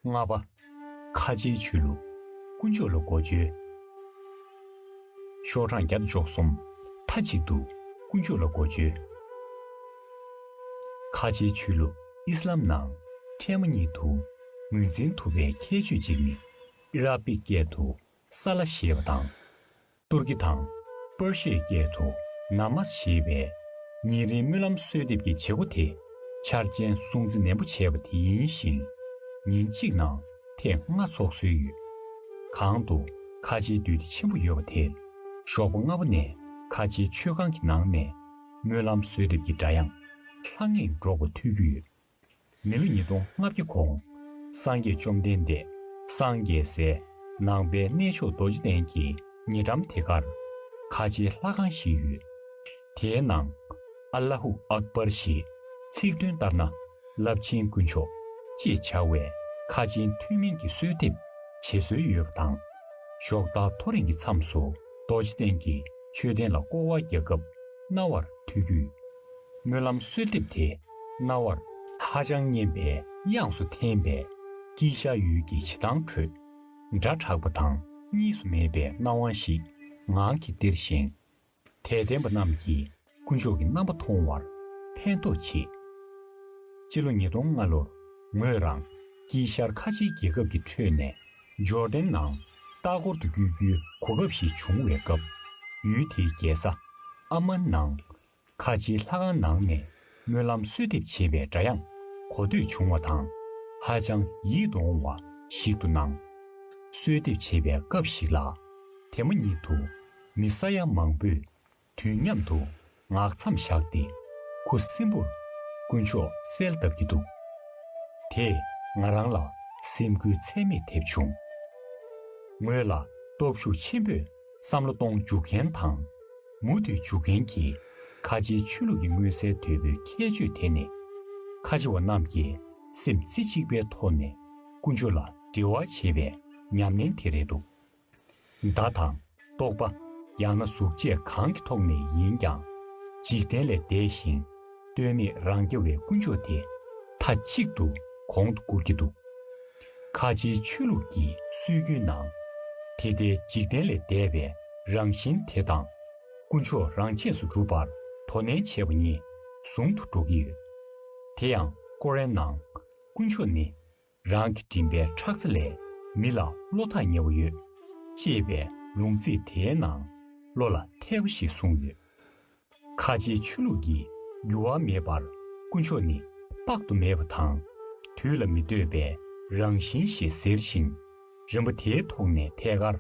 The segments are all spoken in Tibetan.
ལྔ་པ། ཁ་ཆེའི་ཆོས་ལུགས། དཀོན་མཆོག་ལ་སྒོ་བཅོལ། ཤོག་གྲངས་བརྒྱ་འཇོག་གསུམ། མཐའ་གཅིག་ཏུ་དཀོན་མཆོག་ལ་སྒོ་བཅོལ། ཁ་ཆེའི་ཆོས་ལུགས་ཨིསི་ལཱམ་ནང་འཕྲལ་མ་ཉིད་དུ་ངོས་འཛིན་ཐུབ་པའི་ཁྱད་ཆོས་གཅིག་ནི་ཨི་རག་པིག་སྐད་དུ་སཱ་ལཱ་ཞེས་པ་དང། ཏུར་ཀི་དང། པར་ཤིའི་སྐད་དུ། Namaz། ཞེས་པའི། ཉིན་རེའི་སྨོན་ལམ་གསོལ་འདེབས་ཀྱི་བྱེད་སྒོ་དེ། འཆར་ཅན་སྲུང་བརྩི་ནན་པོ་བྱས་པ་དེ་ཡིན་ཞིང། ཉིན་གཅིག་ནང་ཐེངས་ལྔ་འཚོགས་སྲོལ་ཡོད། གང་དུ་ཁ་ཆེའི་འདུས་སྡེ་ཆེན་པོ་ཡོད་པ་དེར། ཞོགས་པ་སྔ་པོ་ནས་ཁ་ཆེའི་ཆོས་ཁང་གི་ནང་ནས། སྨོན་ལམ་གསོལ་འདེབས་ཀྱི་སྒྲ་དབྱངས། ལྷང་ངེར་སྒྲོག་པ་ཐོས་རྒྱུ་ཡོད། མི་ལོ་ཉིས་སྟོང་ལྔ་བརྒྱ་གོང། སངས་རྒྱས་བཅོམ་ལྡན་འདས་སངས་རྒྱས་ཟས། ནང་པའི་གནས་མཆོག་རྡོ་རྗེ་གདན་གྱི་ཉེ་འགྲམ་དེ་གར། ཁ་ཆེའི་ལྷ་ཁང་ཞིག་ཡོད། དེའི་ནང། ཨ་ལ་ཧུ་ཨག་སྦར་ཞེས། ཚིག་དོན་ལྟར་ན། རླབས་ཆེན་དཀོན་མཆོག། ཅེས་བྱ་བའི། ཁ་ཆེན་ཐུན་མིན་གྱི་གསོལ་འདེབས། བྱེད་སྲོལ་ཡོད་པ་དང། ཞོགས་ལྟ་ཐོ་རེངས་ཀྱི་མཚམས་སུ་རྡོ་རྗེ་གདན་གྱི་མཆོད་རྟེན་ལ་སྐོར་བ་རྒྱག་སྐབས་རྣ་བར་ཐོས་རྒྱུ། སྨོན་ལམ་གསོལ་འདེབས་དེ་རྣ་བར། ཧ་ཅང་སྙན་པའི་དབྱངས་སུ་འཐེན་པས། སྐྱིད་ཤ་ཡུལ་གྱི་བྱེ་ཐང་ཁྲོད། སྒྲ་གྲགས་པ་དང་གཉིས་སུ་མེད་པའི་སྣང་བ་ཞིག་ངང་གིས་སྟེར་ཞིང། དད་ལྡན་པ་རྣམས་ཀྱིས་དཀོན་མཆོག་གི་རྣམ་པ་མཐོང་བར་ཕན་ཐོགས་ཆེ། སྤྱི་ལོ་ཉིས་སྟོང་ལྔ་ལོར་ངོས་རང་སྐྱིད་ཤར་ཁ་ཆེའི་རྒྱལ་ཁབ་ཀྱི་ཁྲོད་ནས་འབྱོར་ལྡན་ནང་ལྟ་སྐོར་དུ་བསྐྱོད་རྒྱུའི་གོ་སྐབས་ཤིག་བྱུང་བའི་སྐབས། ཡུལ་དེའི་རྒྱལ་ས་ཨ་མན་ནང་ཁ་ཆེའི་ལྷ་ཁང་ནང་ནས་སྨོན་ལམ་གསོལ་འདེབས་བྱེད་པའི་སྒྲ་དབྱངས་གོ་ཐོས་བྱུང་བ་དང། ཧ་ཅང་ཡིད་དུ་འོང་བ་ཞིག་ཏུ་སྣང། གསོལ་འདེབས་བྱེད་པའི་སྐབས་ཤིག་ལ། དེ་མ་ཉིད་དུ་མི་ས་ཡ་མང་པོས་དུས་མཉམ་དུ་ངག་མཚམས་བཞག་སྟེ་ཁུ་སིམ་པོར་དཀོན་མཆོག་གསལ་བཏབ་ཀྱི་འདུག་དེས་ང་རང་ལ་སེམས་འགུལ་ཚད་མེད་ཐེབས་བྱུང། ངོས་ལ་སྟོབས་ཤུགས་ཆེན་པོས་བསམ་བློ་གཏོང་འཇུག་མཁན་དང། མུ་མཐུད་འཇུག་མཁན་གྱིས་ཁ་ཆེའི་ཆོས་ལུགས་ཀྱི་མངོན་གསལ་དོད་པོའི་ཁྱད་ཆོས་དེ་ནི། ཁ་ཆེ་བ་རྣམས་ཀྱིས་སེམས་རྩེ་གཅིག་པའི་ཐོག་ནས་ཀུན་སྤྱོད་ལ་འབྲེལ་བ་བྱེད་པའི་ཉམས་ལེན་དེ་རེད་འདུག་བརྡ་དང། རྟོག་པ། ཡང་ན་གཟུགས་བཅས་གང་གི་ཐོག་ནས་ཡིན་ཀྱང། འཇིག་རྟེན་ལས་འདས་ཤིང་ལྟོས་མེད་རང་རྐྱ་བའི་ཀུན་སྤྱོད་དེ་མཐའ་གཅིག་ཏུ་གོང་དུ་བཀུར་གྱི་འདུག་ཁ་ཆེའི་ཆོས་ལུགས་ཀྱི་སྲོལ་རྒྱུན་ནང། དེ་ལྟའི་འཇིག་རྟེན་ལས་འདས་པའི་རང་བཞིན་དེ་དང། དཀོན་མཆོག་རང་ཆས་སུ་སྒྲུབ་པར་དོ་ནན་བྱེད་པ་གཉིས་ཟུང་དུ་འགྲོགས་ཀྱི་ཡོད། དེ་ཡང་ཀོ་རན་ནང། དཀོན་མཆོག་ནི། རང་གི་མགྲིན་པའི་ཁྲག་རྩ་ལས་མི་ལ་བློ་ཐག་ཉེ་བ་ཡོད། ཅེས་པའི་ལུང་ཚིག་དེའི་ནང་བློ་ལ་ཐེ་བ་ཞིག་གསུངས་ཡོད། ཁ་ཆེའི་ཆོས་ལུགས་ཀྱིས་འགྱུར་བ་མེད་པར་དཀོན་མཆོག་ནི་དཔག་ཏུ་མེད་པ་དང། དུས་ལ་མི་ལྟོས་པའི་རང་བཞིན་ཞེས་ཟེར་ཞིང། རིམ་པ་དེའི་ཐོག་ནས་ཐད་ཀར་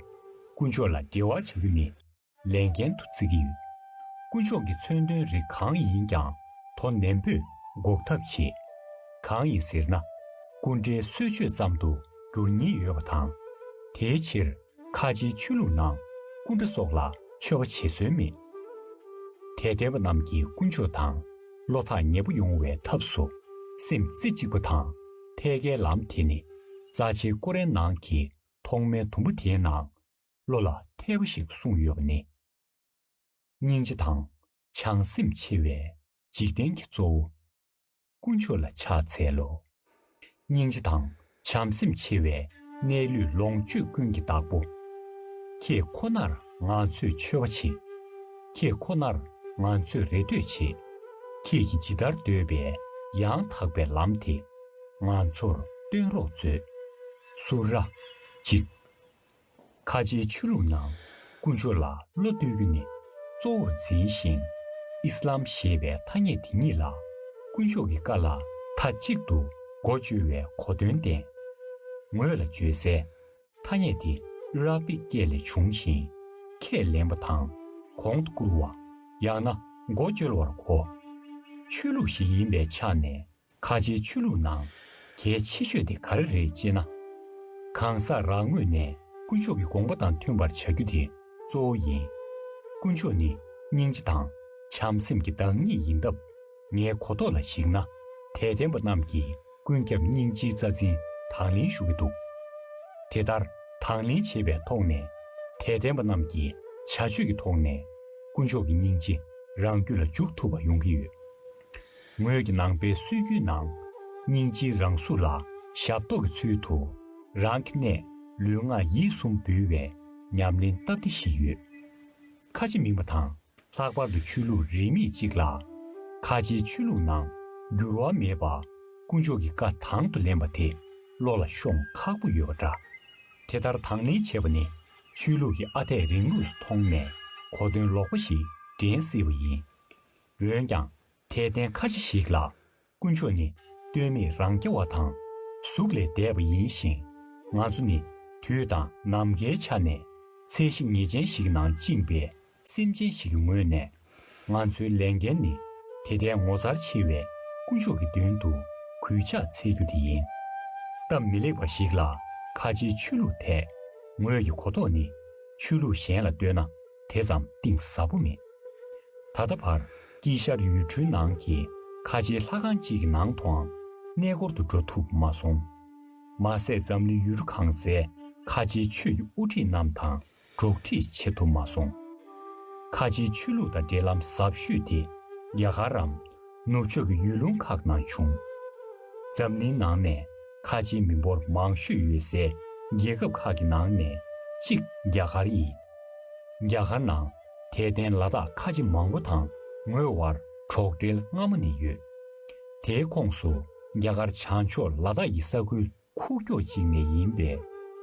དཀོན་མཆོག་ལ་འབྲེལ་བ་བྱ་རྒྱུ་ནི་ལས་འགན་དུ་བརྩི་གི་ཡོད། དཀོན་མཆོག་གི་མཚོན་དོན་རིགས་གང་ཡིན་ཀྱང་དོ་ནན་པོས་འགོག་ཐབས་བྱེད། གང་ཡིན་ཟེར་ན། སྐུ་འདྲའི་གསོལ་མཆོད་ཙམ་དུ་འགྱུར་ཉེན་ཡོད་པ་དང། དེའི་ཕྱིར། ཁ་ཆེའི་ཆོས་ལུགས་ནང་སྐུ་འདྲ་སོགས་ལ་མཆོད་པ་བྱེད་སྲོལ་མེད་དེ། དད་པ་རྣམས་ཀྱི་ཀུན་སྤྱོད་དང་བློ་ཐག་ཉེ་པོ་ཡོང་བའི་ཐབས་སུ་སེམས་རྩེ་གཅིག་པ་དང་ཐད་ཀའི་ལམ་དེ་ནི་རྩ་ཆེའི་ཀོ་རན་ནང་གི་ཐོག་མའི་དུམ་བུ་དེའི་ནང་བློ་ལ་ཐེ་བ་ཞིག་གསུངས་ཡོད་པ་ནི། སྙིང་རྗེ་དང་བྱང་སེམས་ཆེ་བས་འཇིག་རྟེན་གྱི་གཙོ་བོ། དཀོན་མཆོག་ལ་ཕྱག་འཚལ་ལོ། སྙིང་རྗེ་དང་བྱམས་སེམས་ཆེ་བའི་གནས་ལུས་ལོངས་སྤྱོད་ཀུན་གྱི་བདག་པོ། ཁྱེད་ཁོ་ནར་ང་ཚོས་མཆོད་པ་བྱེད། ཁྱེད་ཁོ་ནར་ང་ཚོས་རེ་ལྟོས་བྱེད། ཁྱེད་ཀྱིས་ཇི་ལྟར་འདོད་པའི་ཡང་དག་པའི་ལམ་དེ་ང་ཚོར་སྟོན་རོགས་མཛོད། སུ་ར། གཅིག། ཁ་ཆེའི་ཆོས་ལུགས་ནང་ཀུན་སྤྱོད་ལ་བློ་གཏོད་རྒྱུ་ནི་གཙོ་བོར་འཛིན་ཞིང། ཨིསི་ལཱམ་ཞེས་པའི་ཐ་སྙད་དེ་ཉིད་ལ་ཀུན་སྤྱོད་ཀྱི་ཀཱ་ལ་མཐའ་གཅིག་ཏུ་མགོ་བཅོལ་བའི་གོ་དོན་བསྟན། ངོས་ལ་བརྗོད་སའི་ཐ་སྙད་དེ Arabic སྐད་ལས་བྱུང་ཞིང། ཁས་ལེན་པ་དང་གོང་དུ་བཀུར་བ་ཡང་ན་མགོ་བཅོལ་བར་གོ། ཆོས་ལུགས་ཤིག་ཡིན་པའི་ཆ་ནས་ཁ་ཆེའི་ཆོས་ལུགས་ནང་གལ་ཆེ་ཤོས་དེ་ག་རེ་རེད་ཅེ་ན། གང་ཟག་རང་ངོས་ནས་དཀོན་མཆོག་གི་དགོངས་པ་དང་མཐུན་པར་བྱ་རྒྱུ་དེ་གཙོ་བོ་ཡིན། དཀོན་མཆོག་ནི་སྙིང་རྗེ་དང་བྱམས་སེམས་ཀྱི་བདག་ཉིད་ཡིན་སྟབས། ངའི་གོ་རྟོགས་ལ་གཞིགས་ན་དད་ལྡན་པ་རྣམས་ཀྱིས་ཀུན་ཁྱབ་སྙིང་རྗེའི་རྩ་འཛིན་དང་ལེན་ཞུ་གི་འདུག་དེ་ལྟར་དང་ལེན་བྱེད་པའི་ཐོག་ནས། དད་ལྡན་པ་རྣམས་ཀྱི་བྱ་སྤྱོད་ཀྱི་ཐོག་ནས་དཀོན་མཆོག་གི་སྙིང་རྗེ་རང་རྒྱུད་ལ་འཇུག་ཐུབ་པ་ཡོང་གི་ཡོད། ངོས་ཀྱི་ནང་པའི་སྲོལ་རྒྱུན་ནང། སྙིང་རྗེའི་རང་གཟུགས་ལ་ཞབས་ཏོག་གི་ཚུལ་དུ། རང་གི་གནས་ལུས་ངག་ཡིད་གསུམ་འབུལ་བའི་ཉམས་ལེན་སྟབས་བདེ་ཞིག་ཡོད། ཁ་ཆེ་མིང་པ་དང་ལྷག་པར་དུ་ཆོས་ལུགས་རིས་མེད་ཅིག་ལ། ཁ་ཆེའི་ཆོས་ལུགས་ནང་འགྱུར་བ་མེད་པ། དཀོན་མཆོག་གི་བཀའ་དང་དུ་ལེན་པ་དེ་བློ་ལ་ཤོང་ཁག་པོ་ཡོད་པ་འདྲ། དེ་ལྟར་དང་ལེན་བྱེད་པ་ནི་ཆོས་ལུགས་ཀྱི་ཨ་འཐས་རིང་ལུགས་སུ་མཐོང་ནས་གོ་དོན་ལོག་པ་ཞིག་འདྲེན་སྲིད་པ་ཡིན། འོན་ཀྱང་དེས་བསྟན་ཁ་ཅི་ཞིག་ལ། དཀོན་མཆོག་ནི། ལྟོས་མེད་རང་སྐྱེ་བ་དང། གཟུགས་ལས་འདས་པ་ཡིན་ཞིང། ང་ཚོ་ནི། དུས་དང་ནམ་མཁའི་ཆ་ནས། ཚད་གཞི་ངེས་ཅན་ཞིག་ནང་བཅིངས་པའི། སེམས་ཅན་ཞིག་གི་ངོས་ནས། ང་ཚོའི་ལས་འགན་ནི། དེ་ལྟའི་ངོ་མཚར་ཆེ་བའི། དཀོན་མཆོག་གི་མདུན་དུ། གུས་ཕྱག་འཚལ་རྒྱུ་དེ་ཡིན། སྟབས་མི་ལེགས་པ་ཞིག་ལ། ཁ་ཆེའི་ཆོས་ལུགས་དེས། ངོས་ཀྱི་གོ་རྟོགས་ནི། ཆོས་ལུགས་གཞན་ལ་ལྟོས་ན། དེ་ཙམ་གཏིང་ཟབ་པོ་མེད། ད་ལྟ་བར་དཀྱིལ་ཤར་ཡུལ་གྲུའི་ནང་གི་ཁ་ཆེའི་ལྷ་ཁང་གཅིག་གི་ནང་དུའང་གནས་སྐོར་དུ་འགྲོ་ཐུབ་མ་སོང། མ་ཟད་འཛམ་གླིང་ཡུལ་གྲུ་གང་སའི་ཁ་ཆེའི་ཆོས་ཀྱི་དབུ་ཁྲིད་རྣམས་དང་འགྲོགས་འདྲིས་བྱེད་ཐུབ་མ་སོང། ཁ་ཆེའི་ཆོས་ལུགས་དང་འབྲེལ་ལམ་ཟབ་ཤོས་དེ་རྒྱ་གར་རམ། ནུབ་ཕྱོགས་ཀྱི་ཡུལ་ལུང་ཁག་ནང་བྱུང། འཛམ་གླིང་ནང་ནས་ཁ་ཆེའི་མི་འབོར་མང་ཤོས་ཡོད་སའི་རྒྱལ་ཁབ་ཁག་གི་ནང་ནས་གཅིག་རྒྱ་གར་ཡིན། རྒྱ་གར་ནང། དད་ལྡན་ལ་དྭགས་ཁ་ཆེ་མང་པོ་དང་ངོས་དབར་གྲོགས་འབྲེལ་སྔ་མོ་ནས་ཡོད། དེའི་ཁོངས་སུ་རྒྱ་གར་བྱང་ཕྱོགས་ལ་དྭགས་ཀྱི་ས་ཁུལ་ཁུག་ཀྱོག་ཅིག་ནས་ཡིན་པས་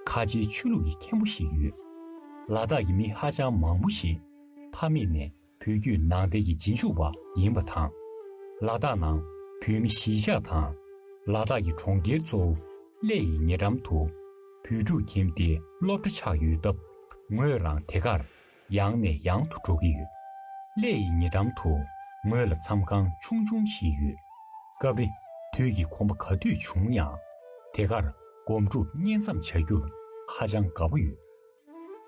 ཁ་ཆེའི་ཆོས་ལུགས་ཀྱི་མཁན་པོ་ཞིག་ཡོད། ལ་དྭགས་ཀྱི་མི་ཧ་ཅང་མང་པོ་ཞིག་ཕ་མེས་ནས་བུ་རྒྱུད་ནང་བསྟན་གྱི་རྗེས་འཇུག་པ་ཡིན་པ་དང། ལ་དྭགས་ནང་བོད་མི་གཞིས་ཆགས་དང་ལ་དྭགས་ཀྱི་གྲོང་ཁྱེར་གཙོ་བོ་ཀླད་ཡི་ཉེ་འགྲམ་དུ་བོད་ཕྲུག་ཁྱིམ་སྡེའི་སློབ་གྲྭ་ཆགས་ཡོད་སྟབས་ངོས་རང་དེ་གར་ཡང་ནས་ཡང་དུ་འགྲོ་གི་ཡོད། སླད་ཡི་ཉེ་འགྲམ་དུ་ངོས་ལ་མཚམས་ཁང་ཆུང་ཆུང་ཞིག་ཡོད། སྐབས་རེ་དུས་ཀྱི་ཁོམ་པ་ག་དུས་བྱུང་ཡང་དེ་གར་སྒོམ་སྒྲུབ་བསྙེན་མཚམས་བྱ་རྒྱུར་ཧ་ཅང་དགའ་པོ་ཡོད།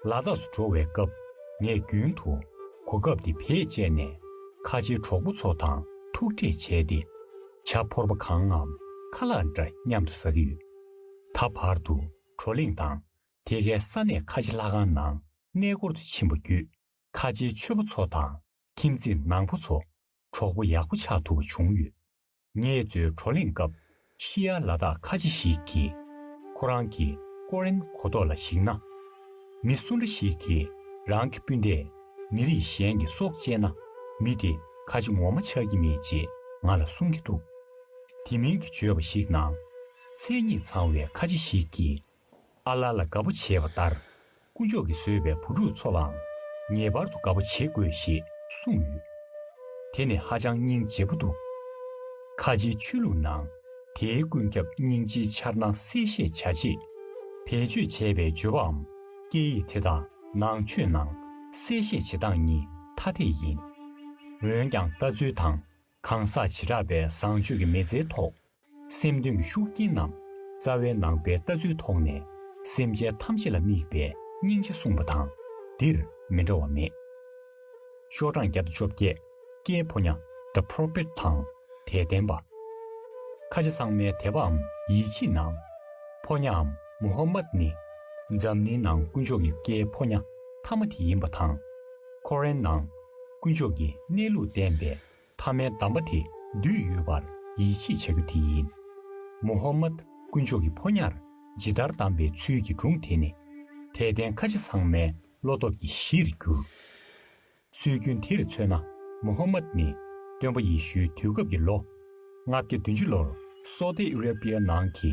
ལ་དྭགས་སུ་འགྲོ་བའི་སྐབས་ངས་རྒྱུན་དུ་གོ་སྐབས་འདི་བེད་སྤྱད་ནས་ཁ་ཆེའི་གྲོགས་པོ་ཚོ་དང་ཐུག་འཕྲད་བྱས་ཏེ་བྱ་ཕོར་པ་གང་ངམ་ཁ་ལག་འདྲ་མཉམ་དུ་ཟ་གི་ཡོད། ད་བར་དུ་བགྲོ་གླེང་དང་དེ་གའི་ས་གནས་ཁ་ཆེ་ལྷ་ཁང་ནང་གནས་སྐོར་དུ་ཕྱིན་པ་བརྒྱུད་ཁ་ཆེའི་མཆོད་པོ་ཚོ་དང་ཁྱིམ་མཚེས་ནང་པ་ཚོ་གྲོགས་པོ་ཡག་པོ་ཆགས་ཐུབ་པ་བྱུང་ཡོད། ངེད་ཚོའི་བགྲོ་གླེང་སྐབས་ཤི་ཡ་ལ་དྭགས་ཁ་ཆེ་ཞིག་གིས་ཁོ་རང་གི་ཀོ་རན་གོ་ཐོག་ལ་གཞིགས་ན། མི་སུ་འདྲ་ཞིག་གིས་རང་གི་སྤུན་ཟླས་མི་རིགས་གཞན་གྱི་སྲོག་བཅད་ན་མི་དེ་ཁ་ཆེ་ངོ་མ་ཆགས་ཀྱི་མེད་ཅེས་ང་ལ་གསུང་གི་འདུག་དེ་མིན་གྱི་བརྗོད་པ་ཞིག་ནང། མཚན་ཉིད་ཚང་བའི་ཁ་ཆེ་ཞིག་གིས་ཨ་ལ་ལ་དགའ་པོ་བྱེད་པ་ལྟར། སྐུ་མཆོག་གིས་བཟོས་པའི་བུ་ཕྲུག་ཚོ་ལའང་ངེས་པར་དུ་དགའ་པོ་བྱེད་དགོས་ཞེས་གསུངས་ཡོད། དེ་ནི་ཧ་ཅང་སྙིང་རྗེ་པོ་འདུག་ཁ་ཆེའི་ཆོས་ལུགས་ནང་དེའི་ཀུན་ཁྱབ་སྙིང་རྗེའི་འཆར་སྣང་གསལ་བཤད་བྱ་ཆེད། བེད་སྤྱོད་བྱས་པའི་བརྗོད་པའམ་སྐད་ཡིག་དེ་དག་ནང་ཆོས་ནང་གསལ་བཤད་བྱེད་སྟངས་གཉིས་ཐ་དད་ཡིན། འོན་ཀྱང་ལྟ་ཚུལ་དང་གང་ཟག་བྱེ་བྲག་པའི་བཟང་སྤྱོད་ཀྱི་མེལ་ཚེའི་ཐོག། སེམས་དོན་གྱི་ཤུགས་རྐྱེན་ནམ། རྩ་བའི་ནང་པའི་ལྟ་ཚུལ་ཐོག་ནས། སེམས་ཅན་ཐམས་ཅད་ལ་དམིགས་པའི་སྙིང་རྗེ་གསུངས་པ་དང། འདིར་མི་འདྲ་བ་མེད། ཤོག་གྲངས་བརྒྱ་དང་བཅོ་བརྒྱད། ཀྱེའི་ཕོ་ཉ། The Prophet། དང། དད་ལྡན་པ། ཁ་ཆེ་ཚང་མའི་དད་པའམ་ཡིད་ཆེས་གནང། ཕོ་ཉའམ། Muhammad། ནི། འཛམ་གླིང་ནང་དཀོན་མཆོག་གི་ཀྱེའི་ཕོ་ཉ། ཐ་མ་དེ་ཡིན་པ་དང། ཁོ་རན་ནང། དཀོན་མཆོག་གི་གནས་ལུགས་བསྟན་པའི་མཐའ་མའི་གདམས་པ་དེ་འདུས་ཡོད་པར་ཡིད་ཆེས་བྱ་རྒྱུ་དེ་ཡིན། མུ་ཧམ་མད་དཀོན་མཆོག་གི་ཕོ་ཉར་ཇི་ལྟར་བདམས་པའི་ཚུལ་གྱི་སྒྲུང་དེ་ནི། དད་ལྡན་ཁ་ཆེ་ཚང་མའི་བློ་སྟོབས་ཀྱི་གཞིར་གྱུར། སྲོལ་རྒྱུན་དེར་མཚོན་ན་མུ་ཧམ་མད་ནི་སྟོན་པ་ཡེ་ཤུའི་དུས་སྐབས་ཀྱི་ལོ་ལྔ་བརྒྱ་བདུན་ཅུ་ལོར་སོ་ཏི་ཨེ་རེ་པི་ཡའི་ནང་གི་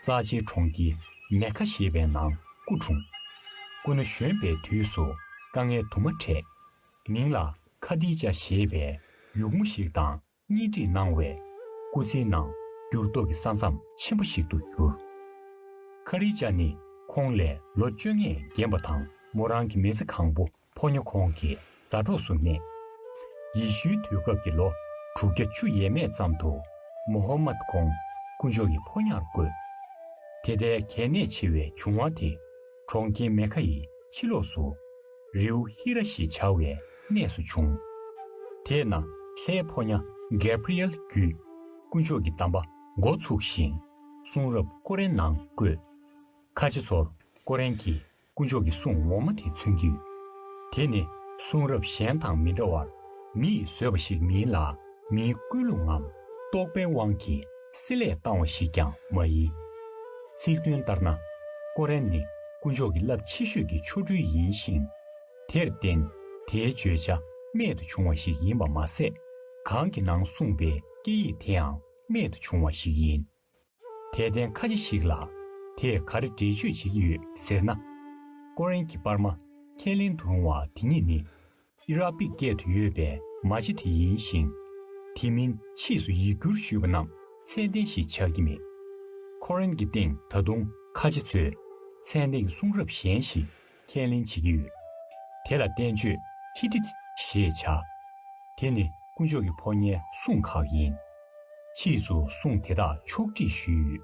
རྩ་ཆེའི་གྲོང་ཁྱེར་མེ་ཁ་ཞེས་པའི་ནང་སྐུ་འཁྲུངས། སྐུ་ན་གཞོན་པའི་དུས་སུ་དཀའ་ངལ་དུ་མ་འཕྲད། མིང་ལ་ཁ་དི་ཅཱ་ཞེས་པའི་ཡུགས་མོ་ཞིག་དང་གཉེན་སྒྲིག་གནང་བས། སྐུ་ཚེའི་ནང་འགྱུར་ལྡོག་གི་ས་མཚམས་ཆེན་པོ་ཞིག་ཏུ་གྱུར། ཁ་རི་ཅཱ་ནི་ཁོང་ལས་ལོ་བཅོ་ལྔས་རྒན་པ་དང་མོ་རང་གི་མེ་ཚེ་གང་པོ་ཕོ་ཉོ་ཁོང་གི་མཛའ་གྲོགས་སུ་གནས། ཡེ་ཤུའི་དུས་སྐབས་ཀྱི་ལོ་དྲུག་བརྒྱ་ཅུ་ཡས་མས་ཙམ་དུ་མོ་ཧོ་མཱད་ཁོང་དཀོན་མཆོག་གི་ཕོ་ཉར་བསྐོས། དེ་ལྟའི་གལ་གནད་ཆེ་བའི་བྱུང་བ་དེ་གྲོང་ཁྱེར་མེ་ཁཱ་ཡི་ཕྱི་ལོགས་སུ། རེའུ་ཧི་ར་ཞེས་བྱ་བའི་གནས་སུ་བྱུང། དེས་ན་ལྷའི་ཕོ་ཉ་གེ་བྷི་རི་ཨེལ་བརྒྱུད་དཀོན་མཆོག་གི་གདམས་པ་མགོ་ཚུགས་ཤིང་གསུང་རབ་ཀོ་རན་ནང་བཀོད། ཁ་ཆེ་ཚོར་ཀོ་རན་གྱི་དཀོན་མཆོག་གི་གསུང་འོག་མ་དེ་མཚོན་གྱི་ཡོད། དེ་ནི་གསུང་རབ་གཞན་དང་མི་འདྲ་བར་མི་ཡིས་བཟོས་པ་ཞིག་མིན་ལ་མིའི་ཀུན་སློང་ངམ་རྟོག་པའི་དབང་གིས་སྲིད་ལས་བཏང་བ་ཞིག་ཀྱང་མ་ཡིན། ཚིག་དོན་ལྟར་ན། ཀོ་རན་ནི་དཀོན་མཆོག་གི་རླབས་ཆེ་ཤོས་ཀྱི་ཆོ་འཕྲུལ་ཡིན་ཞིང། དེར་བརྟེན་དེའི་བརྗོད་བྱ་རྨད་དུ་བྱུང་བ་ཞིག་ཡིན་པ་མ་ཟད། གང་གི་ནང་གསུངས་པའི་སྐད་ཡིག་དེའང་རྨད་དུ་བྱུང་བ་ཞིག་ཡིན། དད་ལྡན་ཁ་ཆེ་ཞིག་ལ་དེས་ག་རེ་འགྲེལ་བརྗོད་བྱེད་ཀྱི་ཡོད་ཟེར་ན། ཀོ་རན་གྱི་པར་མ་ཁས་ལེན་དུ་རུང་བ་དེ་ཉིད་ནི་ཨི་རག་པིག་སྐད་དུ་ཡོད་པའི་མ་ལྕེ་དེ་ཡིན་ཞིང། དེ་མིན་ཕྱིས་སུ་ཡིག་སྒྱུར་ཞུས་པ་རྣམས་ཚད་ལྡན་ཞིག་ཆགས་ཀྱི་མེད། ཀོ་རན་གྱི་སྟེང་ད་དུང་ཁ་ཆེ་ཚོས་ཚད་ལྡན་གྱི་གསུང་རབ་གཞན་ཞིག་ཁས་ལེན་བྱེད་ཀྱི་ཡོད། དེ་ལ་བསྟན་བཅོས་ཧི་ཏི་ཞེས་བྱ། དེ་ནི་དཀོན་མཆོག་གི་ཕོ་ཉའི་གསུང་ཁག་ཡིན། ཕྱིས་སུ་གསུང་དེ་དག་ཕྱོགས་སྒྲིག་ཞུས་ཡོད།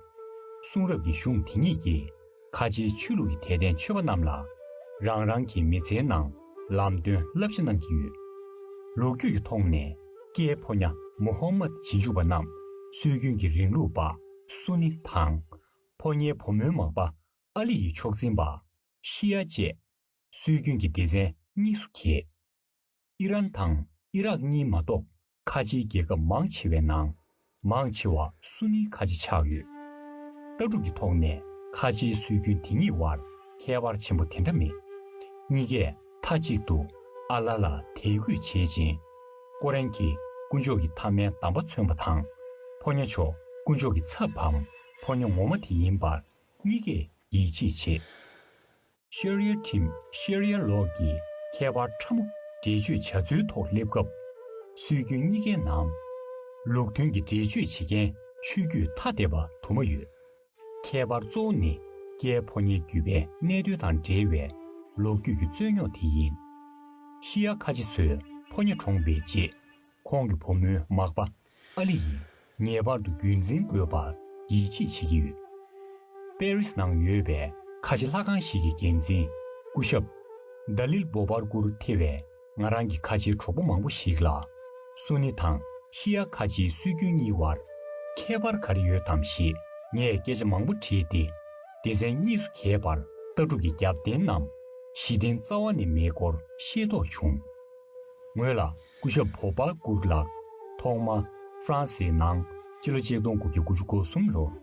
གསུང་རབ་ཀྱི་གཞུང་དེ་ཉིད་ཀྱིས་ཁ་ཆེའི་ཆོས་ལུགས་ཀྱི་དད་ལྡན་ཆོས་པ་རྣམས་ལ་རང་རང་གི་མི་ཚེའི་ནང་ལམ་སྟོན་བསླབ་བྱ་གནང་གི་ཡོད། ལོ་རྒྱུས་ཀྱི་ཐོག་ནས་ཀེའི་ཕོ་ཉ་མུ་ཧོམ་མད་བྱིས་འཇུག་པ་རྣམས་སྲོལ་རྒྱུན་གྱི་རིང་ལུགས་པ་སུ་ནི་དང། ཕོ་ཉའི་བུ་མོའི་མག་པ་ཨཱ་ལི་ཡི་མཆོག་འཛིན་པ། ཤི་ཡ་བཅས། སྲོལ་རྒྱུན་གྱི་སྡེ་ཚན་གཉིས་སུ་གྱེས། ཨི་རན་དང་ཨི་རག་གཉིས་མ་གཏོགས་ཁ་ཆེའི་རྒྱལ་ཁབ་མང་ཆེ་བའི་ནང། མང་ཆེ་བ་སུ་ནིའི་ཁ་ཆེ་ཆགས་ཡོད། ལྟ་གྲུབ་ཀྱི་ཐོག་ནས་ཁ་ཆེའི་སྲོལ་རྒྱུན་དེ་གཉིས་དབར་ཁྱད་པར་ཆེན་པོ་དེ་འདྲ་མེད། གཉིས་ཀས་མཐའ་གཅིག་ཏུ་ཨ་ལ་ལ་དད་གུས་བྱེད་ཅིང། ཀོ་རན་གྱི་དཀོན་མཆོག་གི་མཐའ་མའི་གདམས་པ་མཚོན་པ་དང། ཕོ་ཉ་མཆོག་དཀོན་མཆོག་གི་ཚབ་བམ་ཕོ་ཉ་ངོ་མ་དེ་ཡིན་པར་གཉིས་ཀས་ཡིད་ཆེས་བྱེད། ཤར་ཡལ་ཁྲིམས་ཤར་ཡལ་ལོག་གི་ཁྱད་པར་ཕྲ་མོ་འགྲེལ་བརྗོད་བྱ་ཚུལ་ཐོག་སླེབས་སྐབས། སྲོལ་རྒྱུན་གཉིས་ཀའི་ནང། ལུགས་མཐུན་གྱི་འགྲེལ་བརྗོད་བྱེད་མཁན་ཆོས་བརྒྱུད་ཐ་དད་པ་དུ་མ་ཡོད། ཁྱད་པར་གཙོ་བོ་ནི་རྒྱའི་ཕོ་ཉའི་བརྒྱུད་པའི་གནད་དོན་དང་འབྲེལ་བའི་ལོ་རྒྱུས་ཀྱི་རྩོད་རྙོག་དེ་ཡིན། ཤི་ཡ་ཁ་ཆེ་ཚོས་ཕོ་ཉ་གྲོངས་པའི་རྗེས་ཁོང་གི་བུ་མོའི་མག་པ་ཨ་ལི་ཡིས་ངེས་པར་དུ་རྒྱུན་འཛིན་དགོས་པར་ཡིད་ཆེས་བྱེད་ཀྱི་ཡོད། པེ་རིས་ནང་ཡོད་པའི་ཁ་ཆེ་ལྷ་ཁང་ཞིག་གི་འགན་འཛིན་སྐུ་ཞབས། ཟླ་ལིལ་སྦོ་བར་སྐུར་ཐེ་བས་ང་རང་གི་ཁ་ཆེའི་གྲོགས་པོ་མང་པོ་ཞིག་ལ། སུ་ནི་དང་ཤི་ཡཱ་ཁ་ཆེའི་སྲོལ་རྒྱུན་གཉིས་བར་ཁྱད་པར་ག་རེ་ཡོད་དམ་ཞེས་ངས་སྐད་ཆ་མང་པོ་དྲིས་ཏེ། སྡེ་ཚན་གཉིས་སུ་གྱེས་པར་ལྟ་གྲུབ་ཀྱི་རྒྱབ་རྟེན་ནམ་གཞི་རྟེན་རྩ་བ་ནས་མེད་སྐོར་ཤེས་རྟོགས་བྱུང། ངོས་ལ་སྐུ་ཞབས་བྷོ་བྷ་གུར་ལགས། ཐོག་མ། ཧྥ་རན་སིའི་ནང། སྤྱི་ལོ་ཆིག་སྟོང་དགུ་བརྒྱ་དགུ་ཅུ་གོ་གསུམ་ལོར།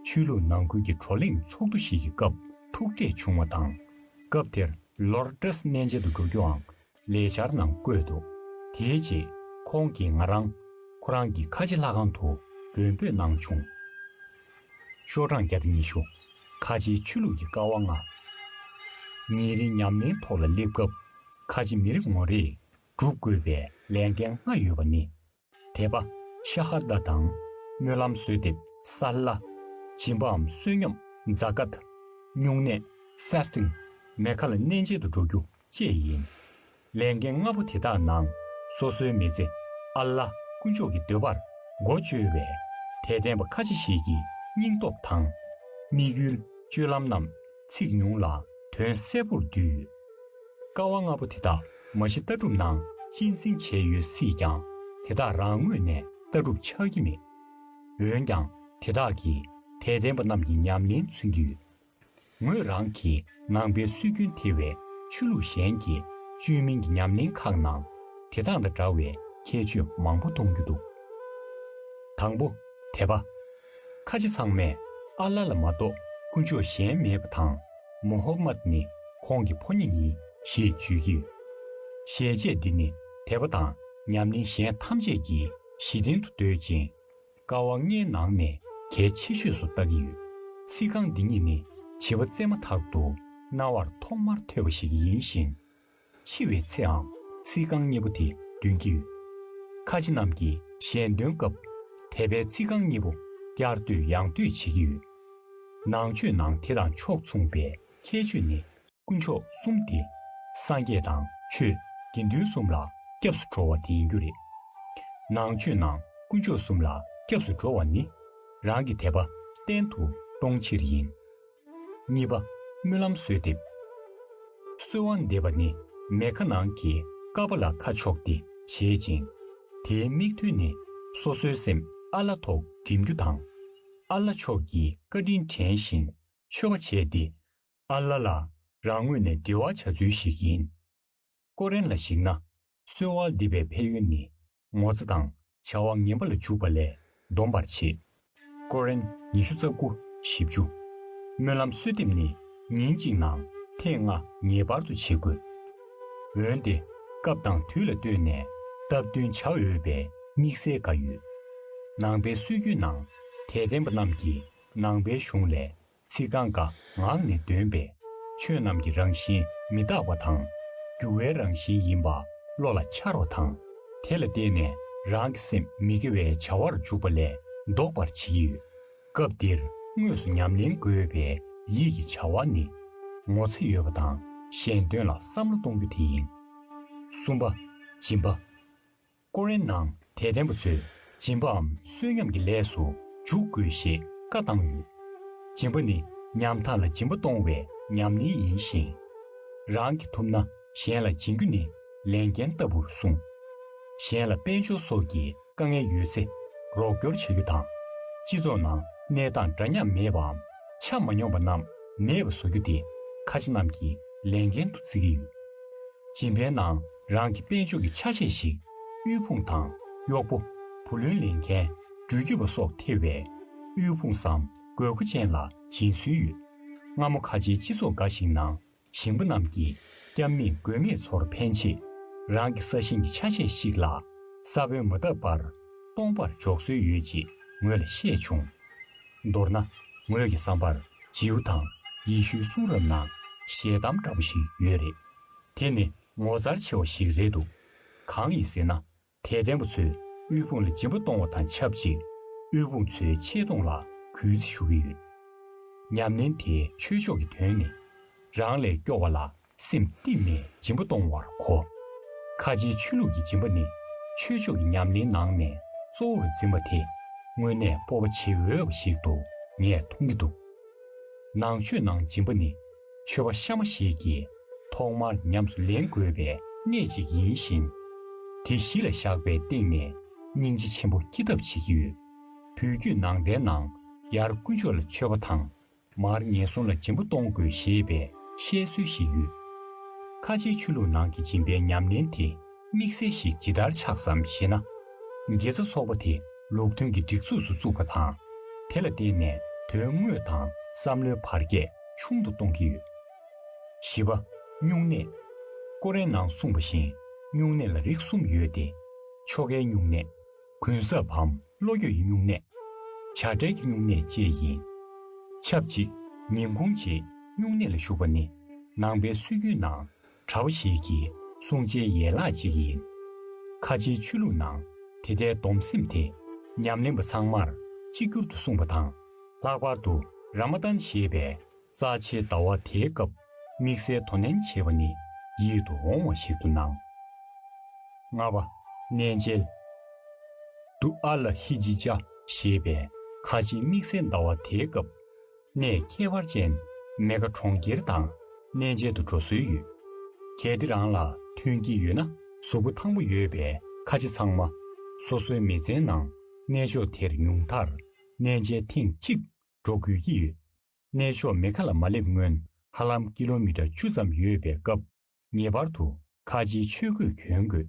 ཆོས་ལུགས་ནང་ཁུལ་གྱི་བགྲོ་གླེང་ཚོགས་འདུ་ཞིག་གི་སྐབས་ཐུག་འཕྲད་བྱུང་བ་དང། སྐབས་དེར་ལོར་ཀྲེས་གནས་མཇལ་དུ་འགྲོ་རྒྱུའང་ལས་འཆར་ནང་བཀོད་འདུག་དེའི་རྗེས་ཁོང་གིས་ང་རང། ཁོ་རང་གི་ཁ་ཆེ་ལྷ་ཁང་དུ་མགྲོན་འབོད་གནང་བྱུང། ཤོག་གྲངས་བརྒྱ་དང་ཉི་ཤུ། ཁ་ཆེའི་ཆོས་ལུགས་ཀྱི་ཀ་བ་ལྔ། ཉིན་རེའི་ཉམས་ལེན་ཐོག་ལ་སླེབས་སྐབས། ཁ་ཆེ་མི་རེ་ངོ་རེས་བསྒྲུབ་དགོས་པའི་ལས་འགན་ལྔ་ཡོད་པ་ནི། དད་པ། ཤ་ཧ་ད་དང། སྨོན་ལམ་གསོལ་འདེབས། སཱ་ལཱ། སྦྱིན་པའམ་བསོད་སྙོམས། Zakat། བསྙུང་གནས། Fasting། མེ་ཁ་ལ་གནས་མཇལ་དུ་འགྲོ་རྒྱུ་བཅས་ཡིན། ལས་འགན་ལྔ་པོ་དེ་དག་ནང་སོ་སོའི་མི་ཚེ་ཨ་ལ་དཀོན་མཆོག་གི་འདོད་པར་སྒོ་བཅོལ་བས་དད་ལྡན་པ་ཁ་ཆེ་ཞིག་གི་སྙིང་སྟོབས་དང། དམིགས་ཡུལ། སྤྱོད་ལམ་རྣམས་ཚིག་ཉུང་ལ་དོན་གསལ་པོར་འདུས་ཡོད། དཀའ་བ་ལྔ་པོ་དེ་དག་མ་གཞི་ལྟ་གྲུབ་ནང་གཅེས་འཛིན་བྱས་ཡོད་སྲིད་ཀྱང་དེ་དག་རང་ངོས་ནས་ལྟ་གྲུབ་ཆགས་ཀྱི་མེད། འོན་ཀྱང་དེ་དག་གིས་དད་ལྡན་པ་རྣམས་ཀྱི་ཉམས་ལེན་མཚོན་གྱི་ཡོད། ངོས་རང་གིས་ནང་པའི་སྲོལ་རྒྱུན་དེ་བས་ཆོས་ལུགས་གཞན་གྱི་བཅོས་མིན་གྱི་ཉམས་ལེན་ཁག་ནང་དེ་དག་དང་འདྲ་བའི་ཁྱད་ཆོས་མང་པོ་མཐོང་རྒྱུ་འདུག་དང་པོ། དད་པ། ཁ་ཆེ་ཚང་མས་ཨ་ལ་ལ་མ་གཏོགས་དཀོན་མཆོག་གཞན་མེད་པ་དང་མོ་ཧོ་མཱད་ནི་ཁོང་གི་ཕོ་ཉས་ཡིན་ཞེས་བརྗོད་ཀྱི་ཡོད། ཞལ་ཆད་འདི་ནི་དད་པ་དང་ཉམས་ལེན་གཞན་ཐམས་ཅད་ཀྱི་གཞི་རྟེན་དུ་འདོད་ཅིང། ཀ་བ་ལྔའི་ནང་ནས་གལ་ཆེ་ཤོས་སུ་བལྟ་གི་ཡོད། ཚིག་རྐང་འདི་གཉིས་ནི་བྱིས་པ་བཙས་མ་ཐག་ཏུ་རྣ་བར་ཐོག་མར་ཐོས་པ་ཞིག་ཡིན་ཞིང། འཆི་བའི་ཚེའང་ཚིག་རྐང་གཉིས་པོ་དེ་འདོན་གྱི་ཡོད། ཁ་ཆེ་རྣམས་ཀྱིས་གཞན་འདོན་སྐབས་དད་པའི་ཚིག་རྐང་གཉིས་པོ་བསྐྱར་ཟློས་ཡང་ཟློས་བྱེད་ཀྱི་ཡོད། ནང་ཆོས་ནང་དེ་དང་ཕྱོགས་མཚུངས་པའི་ཁྱད་ཆོས་ནི། དཀོན་མཆོག་གསུམ་སྟེ། སངས་རྒྱས་དང་ཆོས་དགེ་འདུན་གསུམ་ལ་སྐྱབས་སུ་འགྲོ་བ་དེ་ཡིན་རྒྱུ་རེད། ནང་ཆོས་ནང་དཀོན་མཆོག་གསུམ་ལ་སྐྱབས་སུ་འགྲོ་བ་ནི། རང་གི་དད་པ་བརྟན་དུ་གཏོང་ཕྱིར་ཡིན། གཉིས་པ། སྨོན་ལམ་གསོལ་འདེབས། གསོལ་བ་འདེབས་པ་ནི་མེ་ཁ་ནང་གི་ཀ་པཱ་ལ་ཁ་ཕྱོགས་ཏེ་བྱེད་ཅིང། དེའི་དམིགས་ཐུན་ནི་སོ་སོའི་སེམས་ཨ་ལ་ཐོག་བསྒྲིམ་རྒྱུ་དང། ཨ་ལ་ཕྱོགས་ཀྱི་བཀའ་དྲིན་དྲན་ཞིང་མཆོད་པ་བྱས་ཏེ། ཨ་ལ་ལ་རང་ངོས་ནས་འབྲེལ་བ་བྱ་ཚུལ་ཞིག་ཡིན། ཀོ་རན་ལ་གཞིགས་ན། སོའི་བ་འདི་པའི་ཕན་ཡོན་ནི། ངོ་ཚ་དང་བྱ་བ་ངན་པ་ལ་འཇུག་པ་ལས་སྡོམ་པར་བྱེད། ཀོ་རན་ཉི་ཤུ་རྩ་དགུ་བཞི་བཅུ། སྨོན་ལམ་གསོལ་འདེབས་ནི་ཉིན་གཅིག་ནང་ཐེངས་ལྔ་ངེས་པར་དུ་བྱེད་དགོས། འོན་ཏེ་སྐབས་དང་དུས་ལ་ལྟོས་ནས་སྟབས་བསྟུན་བྱ་འོས་པའི་དམིགས་བསལ་འགའ་ཡོད། ནང་པའི་སྲོལ་རྒྱུན་ནང་དད་ལྡན་པ་རྣམས་ཀྱིས་ནང་པའི་གཞུང་ལས་ཚིག་རྐང་འགའ་ངག་ནས་འདོན་པས། ཆོས་རྣམས་ཀྱི་རང་བཞིན་མི་རྟག་པ་དང། འགྱུར་བའི་རང་བཞིན་ཡིན་པ་བློ་ལ་འཆར་བ་དང། དེ་ལ་བརྟེན་ནས་རང་གི་སེམས་མི་དགེ་བའི་བྱ་བར་འཇུག་པ་ལས་ལྡོག་པར་བྱེད་ཀྱི་ཡོད། སྐབས་འདིར་དངོས་སུ་ཉམས་ལེན་དགོས་པའི་ཡིད་ཀྱི་བྱ་བ་ནི། ངོ་ཚ་ཡོད་པ་དང་གཞན་དོན་ལ་བསམ་བློ་གཏོང་རྒྱུ་དེ་ཡིན། གསུམ་པ། སྦྱིན་པ། ཀུ་རེ་ནང་དད་ལྡན་པ་ཚོས་སྦྱིན་པའམ་བསོད་སྙོམས་ཀྱི་ལས་སུ་འཇུག་དགོས་ཞེས་བཀའ་བཏང་ཡོད། སྦྱིན་པ་ནི་ཉམ་ཐག་ལ་སྦྱིན་པ་གཏོང་བའི་ཉམས་ལེན་ཡིན་ཞིང། རང་གིས་ཐུབ་ན་གཞན་ལ་སྦྱིན་རྒྱུ་ནི་ལས་འགན་ལྟ་བུར་གསུངས། གཞན་ལ་དཔལ་འབྱོར་སོགས་ཀྱི་དཀའ་ངལ་ཡོད་ཚེ་རོགས་སྐྱོར་བྱ་རྒྱུ་དང། སྤྱི་ཚོགས་ནང་གནས་སྟངས་འདྲ་མཉམ་མེད་པའམ་ཆ་མ་སྙོམས་པ་རྣམས་མེད་པ་བཟོ་རྒྱུ་དེ་ཁ་ཆེ་རྣམས་ཀྱི་ལས་འགན་དུ་བརྩི་གི་ཡོད། སྦྱིན་པའི་ནང་རང་གི་དཔལ་འབྱོར་གྱི་ཆ་ཤས་ཤིག་དབུལ་ཕོངས་དང་གཡོག་པོ། བུ་ལོན་ལེན་མཁན། འགྲུལ་སྐྱོད་པ་སོགས་ཐེ་བའི་དབུལ་ཕོངས་སམ་དགོས་མཁོ་ཅན་ལ་སྦྱིན་སྲོལ་ཡོད། སྔ་མོ་ཁ་ཆེའི་སྤྱི་ཚོགས་འགའ་ཞིག་ནང་ཞིང་པ་རྣམས་ཀྱིས་སྐྱབས་མེད་མགོན་མེད་ཚོར་ཕན་ཆེད། རང་གི་ས་ཞིང་གི་ཆ་ཤས་ཤིག་ལ་ས་བོན་མ་བཏབ་པར་སྟོང་པར་འཇོག་སྲོལ་ཡོད་ཅེས་ངོས་ལ་བཤད་བྱུང། མདོར་ན། ངོས་ཀྱི་བསམ་པར་རྗེའུ་དང་ཡེ་ཤུའི་གསུང་རབ་ནང་ཞལ་གདམས་འདྲ་པོ་ཞིག་ཡོད་རེད། དེ་ནི་ངོ་མཚར་ཆེ་བ་ཞིག་རེད་འདུག་གང་ཡིན་ཟེར་ན་དད་ལྡན་པ་ཚོས་དབུལ་ཕོངས་ལ་སྦྱིན་པ་གཏོང་བ་དང་ཆབས་ཅིག་དབུལ་ཕོངས་ཚོའི་ཆེ་མཐོང་ལ་གུས་བརྩི་ཞུ་གི་ཡོད། ཉམས་ལེན་དེ་ཆོས་ཕྱོགས་ཀྱི་དོན་ནི། རང་ལས་སྐྱོ་བ་ལ་སེམས་གཏིང་ནས་སྦྱིན་པ་གཏོང་བར་གོ། ཁ་ཆེའི་ཆོས་ལུགས་ཀྱི་སྦྱིན་པ་ནི་ཆོས་ཕྱོགས་ཀྱི་ཉམས་ལེན་ནང་ནས་གཙོ་བོར་འཛིན་པ་དེ་དངོས་གནས་སྤོབས་པ་བྱེད་འོས་པ་ཞིག་ཏུ་ངས་མཐོང་གི་འདུག་ནང་ཆོས་ནང་སྦྱིན་པ་ནི། མཆོད་པ་ཤ་མོ་ཞིག་གིས་ཐོག་མར་ཉམས་སུ་ལེན་དགོས་པའི་གནད་ཅིག་ཡིན་ཞིང། དེ་གཞི་ལ་བཞག་པའི་སྟེང་ནས་སྙིང་རྗེ་ཆེན་པོ་སྐྱེ་ཐབས་བྱེད་ཀྱི་ཡོད། བོད་བརྒྱུད་ནང་བསྟན་ནང་ཡར་དཀོན་མཆོག་ལ་མཆོད་པ་དང། མར་ངན་སོང་ལ་སྦྱིན་པ་གཏོང་དགོས་ཞེས་པའི་བཤད་སྲོལ་ཞིག་ཡོད། ཁ་ཆེའི་ཆོས་ལུགས་ནང་གི་སྦྱིན་པའི་ཉམས་ལེན་དེ། དམིགས་བསལ་ཞིག་ཇི་ལྟར་ཆགས་སམ་ཞེ་ན། དགེ་རྩ་ཚོགས་པ་དེ་ལུགས་མཐུན་གྱི་སྒྲིག་འཛུགས་སུ་བཙུགས་པ་དང། དེ་ལ་བརྟེན་ནས་དོན་དངོས་དང་བསམ་བློའི་བར་ཁྱད་ཆུང་དུ་གཏོང་གི་ཡོད། བཞི་པ། སྨྱུང་གནས། ཀོ་རན་ནང་གསུངས་པ་བཞིན་སྨྱུང་གནས་ལ་རིགས་གསུམ་ཡོད་དེ། ཆོ་གའི་སྨྱུང་གནས། གུན་གསབ་བམ་བློ་འགྱོད་ཀྱི་སྨྱུང་གནས། བྱ་བྲལ་གྱི་སྨྱུང་གནས་བཅས་ཡིན། ཆབས་ཅིག་ཉིན་གུང་རྗེས་སྨྱུང་གནས་ལ་ཞུགས་པ་ནི་ནང་པའི་སྲོལ་རྒྱུན་ནང་གྲྭ་བ་ཞིག་གིས་གསུང་བྱའི་ཡན་ལག་ཅིག་ཡིན། ཁ་ཆེའི་ཆོས་ལུགས་ནང་དེ་ལྟའི་སྡོམ་སེམས་དེ་ཉམས་ལེན་པ་ཚང་མར་གཅིག་གྱུར་དུ་གསུངས་པ་དང། ལྷག་པར་དུ་རཱ་མ་ཏཱན་ཞེས་པའི་རྩ་ཆེའི་ཟླ་བ་དེའི་སྐབས་དམིགས་བསལ་དོ་ནན་བྱེད་པ་ནི་ཡིད་དུ་འོང་བ་ཞིག་ཏུ་སྣང། ལྔ་བ། གནས་མཇལ། དུ་ཨ་ལ་ཧི་ཇི་ཅཱ་ཞེས་པའི་ཁ་ཆེའི་དམིགས་བསལ་ཟླ་བ་དེའི་སྐབས། ནས་ཁྱད་པར་ཅན་མེ་ག་གྲོང་ཁྱེར་དང་གནས་མཇལ་དུ་འགྲོ་སྲོལ་ཡོད། གལ་ཏེ་རང་ལ་མཐུན་གྱི་ཡོད་ན་གཟུགས་པོ་ཐང་པོ་ཡོད་པའི་ཁ་ཆེ་ཚང་མ་སོ་སོའི་མི་ཚན་ནང་གནས་མཆོག་དེར་ཉུང་མཐར་གནས་མཇལ་ཐེངས་གཅིག་འགྲོ་དགོས་ཀྱི་ཡོད། གནས་མཆོག་མེ་ག་ལ་མ་སླེབས་སྔོན་ཧ་ལམ་ཀི་ལོ་མི་ཀྲ་བཅུ་ཙམ་ཡོད་པའི་སྐབས་ངེས་པར་དུ་ཁ་ཆེའི་ཆོས་གོས་གྱོན་དགོས།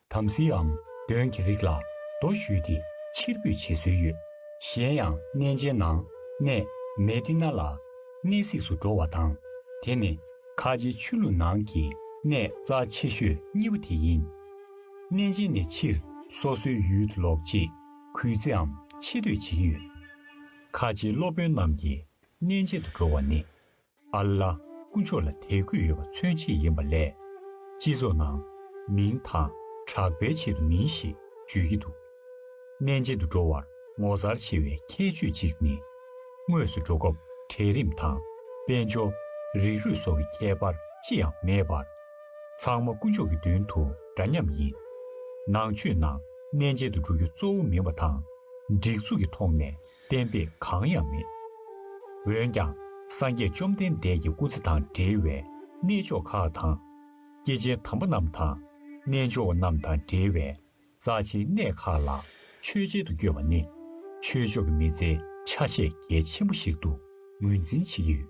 དམ་སྲིའམ་གདོན་གྱི་རིགས་ལ་རྡོ་བཞུས་ཏེ་ཕྱིར་འབུད་བྱེད་སྲོལ་ཡོད། གཞན་ཡང་གནས་མཇལ་ནང་གནས་མལ་སྤྲིན་ནག་ལ། གནས་གཟིགས་སུ་འགྲོ་བ་དང། དེ་ནི་ཁ་ཆེའི་ཆོས་ལུགས་ནང་གི་གནས་རྩ་ཆེ་ཤོས་གཉིས་པོ་དེ་ཡིན། གནས་མཇལ་ནས་ཕྱིར་སོ་སོའི་ཡུལ་དུ་ལོག་རྗེས་གུས་བརྩིའམ་ཆེ་བསྟོད་བྱེད་ཀྱི་ཡོད། ཁ་ཆེའི་སློབ་དཔོན་རྣམས་ཀྱིས་གནས་མཇལ་དུ་འགྲོ་བ་ནི་ཨ་ལ། སྐུ་མཆོག་ལ་དད་གུས་ཡོད་པ་མཚོན་བྱེད་ཡིན་པ་ལས། སྤྱི་ཚོགས་ནང། མིང་དང། གྲགས་པའི་ཆེད་དུ་མིན་ཞེས་བརྗོད་ཀྱི་འདུག། གནས་མཇལ་དུ་འགྲོ་བར་ངོ་མཚར་ཆེ་བའི་ཁྱད་ཆོས་གཅིག་ནི། དངོས་སུ་འགྲོ་སྐབས་གྲལ་རིམ་དང། དཔལ་འབྱོར། རིགས་རུས་སོགས་ཀྱི་ཁྱད་པར་ཅི་ཡང་མེད་པར། ཚང་མ་སྐུ་མཆོག་གི་མདུན་དུ་འདྲ་མཉམ་ཡིན། ནང་ཆོས་ནང་གནས་མཇལ་དུ་འགྲོ་རྒྱུ་གཙོ་བོ་མིན་པ་དང། སྒྲིག་འཛུགས་ཀྱི་ཐོག་ནས་གཏན་པས་གང་ཡང་མེད། འོན་ཀྱང་སངས་རྒྱས་བཅོམ་ལྡན་འདས་ཀྱི་སྐུ་ཚེ་དང་འབྲེལ་བའི་གནས་མཆོག་ཁག་དང། སྐྱེས་ཆེན་དམ་པ་རྣམས་དང་རྣལ་འབྱོར་བ་རྣམས་དང་འབྲེལ་བའི་རྩ་ཆེའི་གནས་ཁག་ལ་ཆོས་འཆད་དུ་བསྐྱོད་པ་ནི། ཆོས་ཕྱོགས་ཀྱི་མི་ཚེའི་ཆ་ཤས་གལ་ཆེན་པོ་ཞིག་ཏུ་ངོས་འཛིན་བྱེད་ཀྱི་ཡོད།